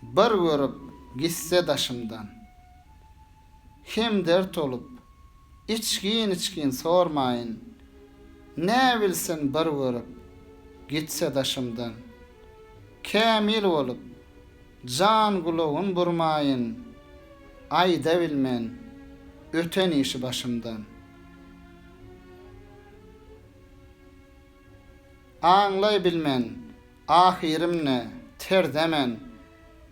Bir görüp gitse daşymdan. Hem dert olup, içgin-içgin sormaýyn, Näbilsin bir görüp gitse daşymdan. Kämil bolup, jan gulagyn burmaýyn, Aýdabilmen öten işi başymdan. Aňlaýbilmen, ahyrymny, terze men.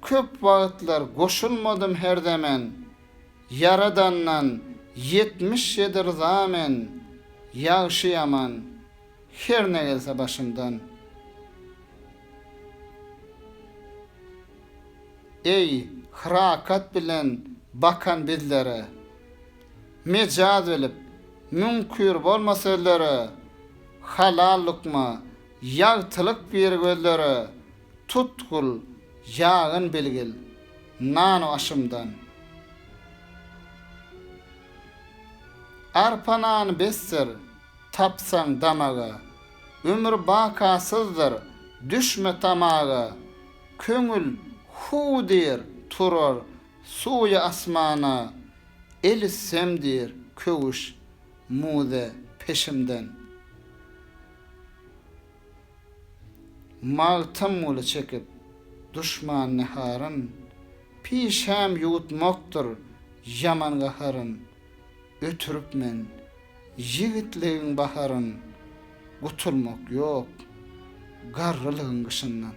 Köp wagtlar goşulmadym herze men. Ýaradandan ýetmiş ýedi ryza men. Ýagşy-ýaman, her ne gelse başymdan. Eý, hyrakat bilen bakan bizlere. Mejaz bilip, müňkür bolma sözlere, Halal lukma, ýagtylyk bir gözlere, Tutgul, ýagyn bilgil, nanu-aşymdan. Arpa nany besdir, tapsaň damaga, Ömür bakasyzdyr, düşme tamaga, Köňül, Hu diýr, turar, Suwy asmana el üssem diýr köwüş muze peşimden. Magtymguly çekip duşman neharyn, pişäm ýuwutmakdyr ýaman gaharyn. Ötürip men ýigitligiň baharyn, gutulmak ýok garrylygyň gyşyndan.